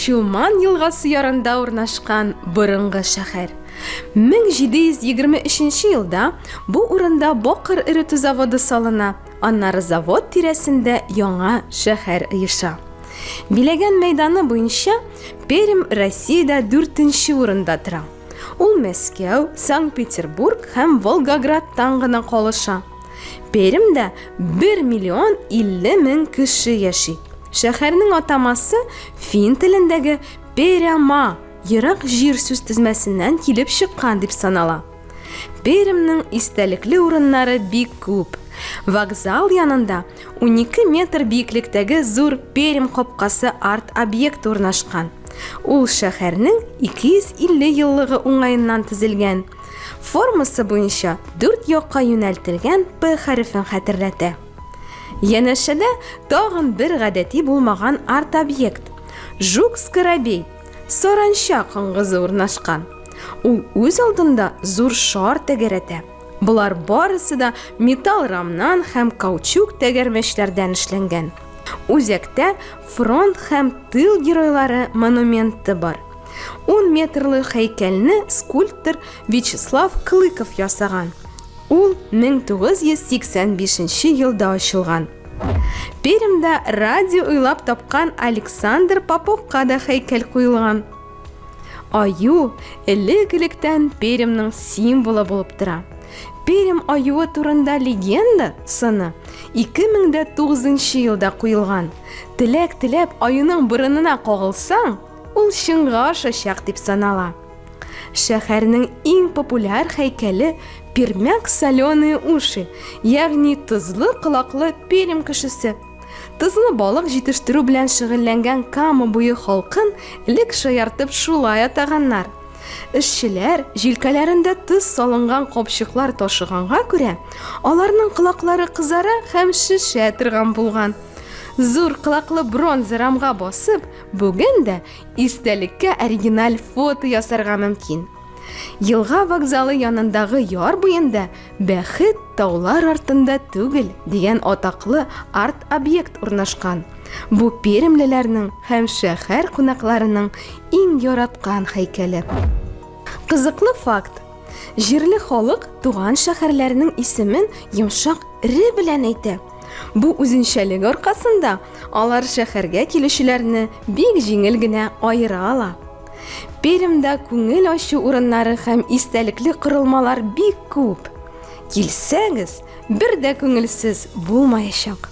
Чулман елгасы ярында урнашкан борынгы шәһәр. 1723 елда бу урында Бокыр эретү заводы салына Аннары завод тирәсендә яңа шәһәр оеша. Биләгән мәйданы буенча Пермь Россиядә дүртенче урында тора. Ул Мәскәү, Санкт-Петербург һәм Волгоградтан гына калыша. Пермьдә 1 миллион 50 мең кеше яши. Шәһәрнең атамасы фин телендәге Перяма, ерак җир сүз тезмәсеннән килеп чыккан дип санала. Пермьнең истәлекле урыннары бик күп. Вокзал янында 12 метр биеклектәге зур Пермь капкасы арт объект урнашкан. Ул шәһәрнең 250 еллыгы уңаеннан төзелгән. Формасы буенча дүрт якка юнәлтелгән П хәрефен хәтерләтә. Янәшәдә тагын бер гадәти булмаган арт-объект – Жук-Скоробей Саранча коңгызы урнашкан. Ул үз алдында зур шар тәгәрәтә. Болар барысы да металл рамнан һәм каучук тәгәрмәчләрдән эшләнгән. Үзәктә фронт һәм тыл геройлары монументы бар. 10 метрлы хәйкәлне скульптор Вячеслав Клыков ясаган. Ул 1985 елда ачылган. Пермьдә радио уйлап тапкан Александр Поповка да һәйкәл куелган. Аю элек-электән Пермьның символы булып тора. Пермь аюы турында легенда сыны 2009 елда куелган. Теләк теләп аюның борынына кагылсаң, ул чынга ашачак дип санала. Шәһәрнең иң популяр һәйкәле Пермяк соленые уши, ягъни тозлы колаклы Пермь кешесе. Тозлы балык җитештерү белән шөгыльләнгән Кама буе халкын элек шаяртып шулай атаганнар. Эшчеләр җилкәләрендә тоз салынган капчыклар ташыганга күрә, аларның колаклары кызара һәм шешә торган булган. Зур колаклы бронза рамга басып, бүген дә Истәлеккә оригиналь фото ясарга мөмкин. Елга вокзалы янындагы яр буенда Бәхет таулар артында түгел дигән атаклы арт-объект урнашкан. Бу перемлеләрнең һәм шәһәр кунакларының иң яраткан һәйкәле. Кызыклы факт. Җирле халык туган шәһәрләренең исемен йомшак ре белән әйтә. Бу үзенчәлек аркасында алар шәһәргә килүчеләрне бик җиңел генә аера ала. Пермьдә күңел ачу урыннары һәм истәлекле корылмалар бик күп. Килсәгез, бер дә күңелсез булмаячак.